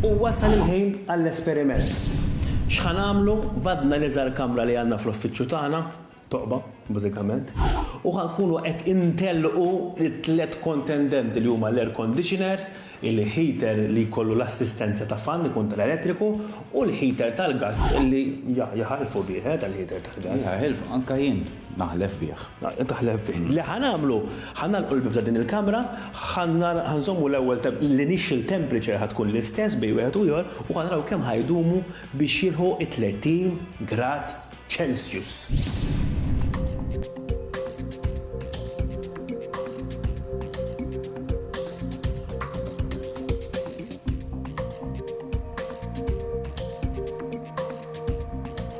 U wasal il-ħin għall-esperiment. X'ħa nagħmlu? Bgħaddna l-iżgħar kamra li għandna fl-uffiċċju tagħna, toqba, bażikament, u ħa nkunu qed intellqu t-tliet kontendenti li huma l-air conditioner, il-heater li jkollu l-assistenza ta' fan, ikun tal-elettriku, u l-heater tal-gass li jaħilfu bih, eh, tal-heater tal-gass. Jaħilfu, anke jien. Naħlef bih. Taħlef bih. Li ħa nagħmlu, ħa nagħlqu l-bieb ta' din il-kamra, ħa nżommu l-ewwel l-initial temperature ħa tkun l-istess bejn wieħed u ieħor u ħa naraw kemm ħa jdumu biex jilħu t-tletin grad Celsius.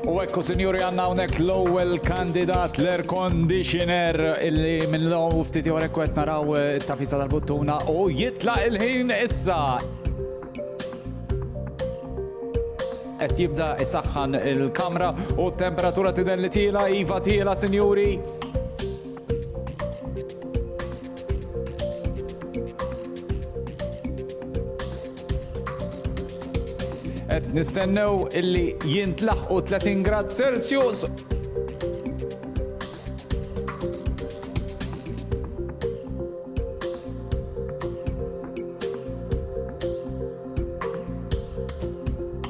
U ekku sinjuri għanna unek l-ewwel kandidat l-air conditioner illi minn l-għom ftit jor ekku qed naraw eh, it-tafisa tal-buttuna u jitlaq il-ħin issa. Qed jibda isaħħan il-kamra u t-temperatura tidher li tiela, iva tiela sinjuri. Qed nistennew illi jintlaħqu 30 grad Celsius.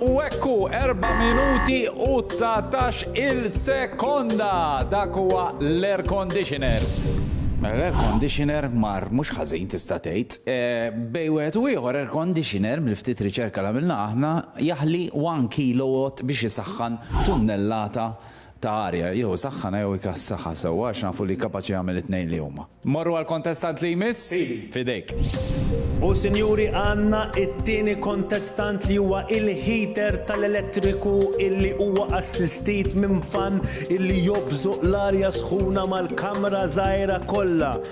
U ekku 4 minuti u 19 il-sekonda dak huwa l-air conditioner. L-air conditioner mar mhux ħażin tista' tgħid. Bejn wieħed u ieħor air conditioner, mill-ftit riċerka li għamilna aħna, jaħli one kilowatt biex isaħħan tunnellata ta' arja. Jew isaħħanha jew ikassaha sewwa għax nafu li kapaċi jagħmel it-tnejn li huma. Mmorru għall-kontestant li jmiss? Fidi. F'idejk. U sinjuri għandna t-tieni kontestant li huwa il-heater tal-elettriku illi huwa assistit minn fan illi jobżoq l-arja sħuna mal-kamra żgħira kollha.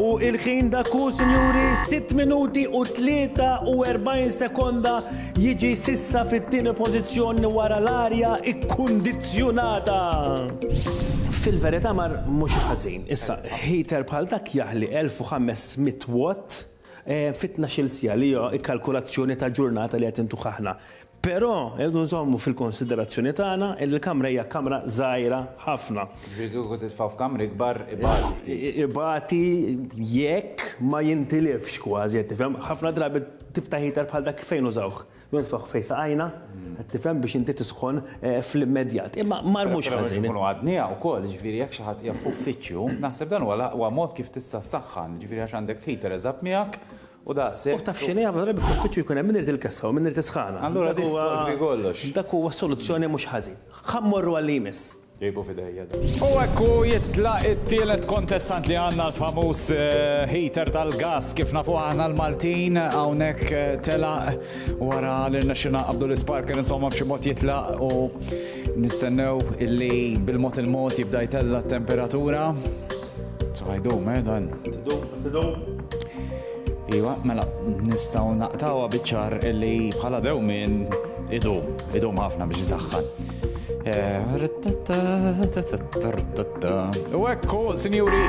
U il-ħin dak hu, sinjuri, sitt minuti u 43 sekonda jiġi sissa fit-tieni pożizzjoni wara l-arja ikkundizzjunata. Fil-verità mar mhux ħażin. Issa, heater bħal dak jaħli 1500 watt fi tnax-il siegħa li hija kalkulazzjoni ta' ġurnata li qed intuh aħna. Però irridu nżommu fil-konsiderazzjoni tagħna li l-kamra hija kamra żgħira ħafna. Jiġifieri kieku titfa' f'kamra ikbar ibati ftit. Ibati jekk ma jintilifx kważi, qed tifhem? Ħafna drabi tip ta' heater bħal dak fejn użawh? Jew nitfgħuh fejn saqajna, qed tifhem, biex inti tisħon fl-immedjat. Imma marmux ħażin. Però biex inkunu għadniha wkoll, jiġifieri jekk xi ħadd qiegħed f'uffiċċju, naħseb dan huwa l-aqwa mod kif tista' ssaħħan, jiġifieri għax għandek heater eżatt miegħek U daqshekk. U taf x'inhi, ħafna drabi fl-uffiċċju jkun hemm min irid il-kessa u min irid is-sħana. Allura din ssolvi kollox. Dak huwa soluzzjoni mhux ħażin. Ħa mmorru għal li jmiss. Ġejbu f'idejja dan. U hekk hu jitlaq it-tielet kontestant li għandna l-famuż heater tal-gass kif nafuh aħna l-Maltin. Hawnhekk telaq wara li rnexxielna nqabbdu l-isparker insomma b'xi mod jitlaq u nistennew illi bil-mod il-mod jibda jtella' t-temperatura. Ħajdum, eh, dan. Tidum, tidum. Iwa, mela, nistaw naqtawa biċar illi bħala dew minn idum, idum ħafna biex zaħħan. U ekku, sinjuri,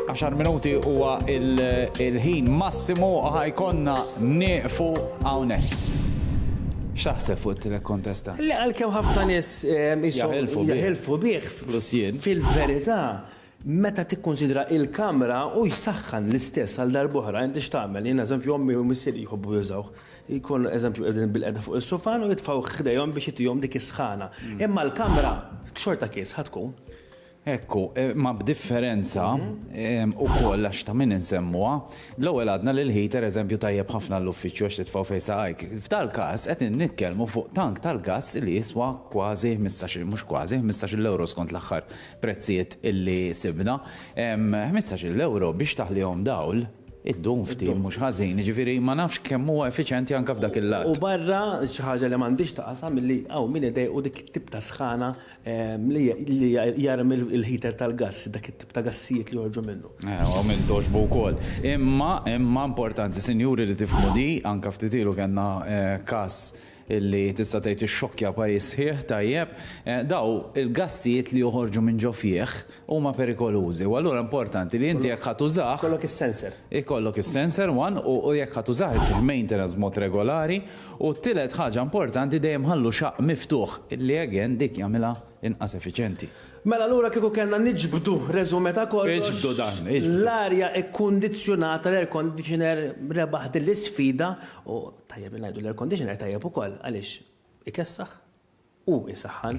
10 minuti huwa il-ħin massimu ħajkonna nieqfu hawnhekk. X'taħseb fuq it-telekontesta? Le għalkemm ħafna nies eh, jahilfu bih. Plus jien. Fil-verità, meta tikkunsidra l-kamra, hu jsaħħan l-istess għal darb'oħra. Inti x'tagħmel? Jien eżempju ommi u missieri jħobbu jużawh. Jkunu eżempju qegħdin bilqiegħda fuq is-sufan u jitfgħuh ħdejhom biex itihom dik is-sħana. Imma l-kamra xorta kies ħa tkun. Ekku, imma b'differenza, ukoll għax ta' min insemmuha, L-ewwel għadna li l-heater eżempju tajjeb ħafna għall-uffiċċju għax titfgħu fejn saqajk. F'dal-każ qed innikkelmu fuq tank tal-gass li jiswa kważi ħmistax-il, mhux kważi, ħmistax-il ewro skont l-aħħar prezzijiet illi sibna. Ħmistax-il ewro biex taħlihom dawl iddum ftit mhux ħażin, jiġifieri ma nafx kemm huwa effiċjenti anke f'dak il-lat. U barra xi ħaġa li m'għandhiex taqasam illi hawn min idejqu dik it-tip ta' sħana li jarmi il-heater tal-gass, dak it-tip ta' gassijiet li joħorġu minnu. Ewa, u minn togħġbu wkoll. Imma, imma importanti, sinjuri, li tifhmu di, anke ftit ilu kellna każ li tista' tgħid ixxokkja pajjiż sħiħ, tajjeb, dawn il-gassijiet li joħorġu minn ġo fih huma perikolużi u allura importanti li inti jekk ħa tużah. Ikollok is-sensor. Ikollok is-sensor, one, u jekk ħa tużah ittih maintenance b'mod regolari U t-tielet ħaġa importanti dejjem ħallu xaqq miftuħ, li again dik jagħmilha inqas effiċjenti. Mela allura kieku kellna niġbdu resumé ta' kollox. Iġbdu dan, iġbdu. L-arja kkundizzjonata, l-air conditioner rebaħ din l-isfida u tajjeb li ngħidu l-air conditioner tajjeb ukoll għaliex ikessaħ u jsaħħan.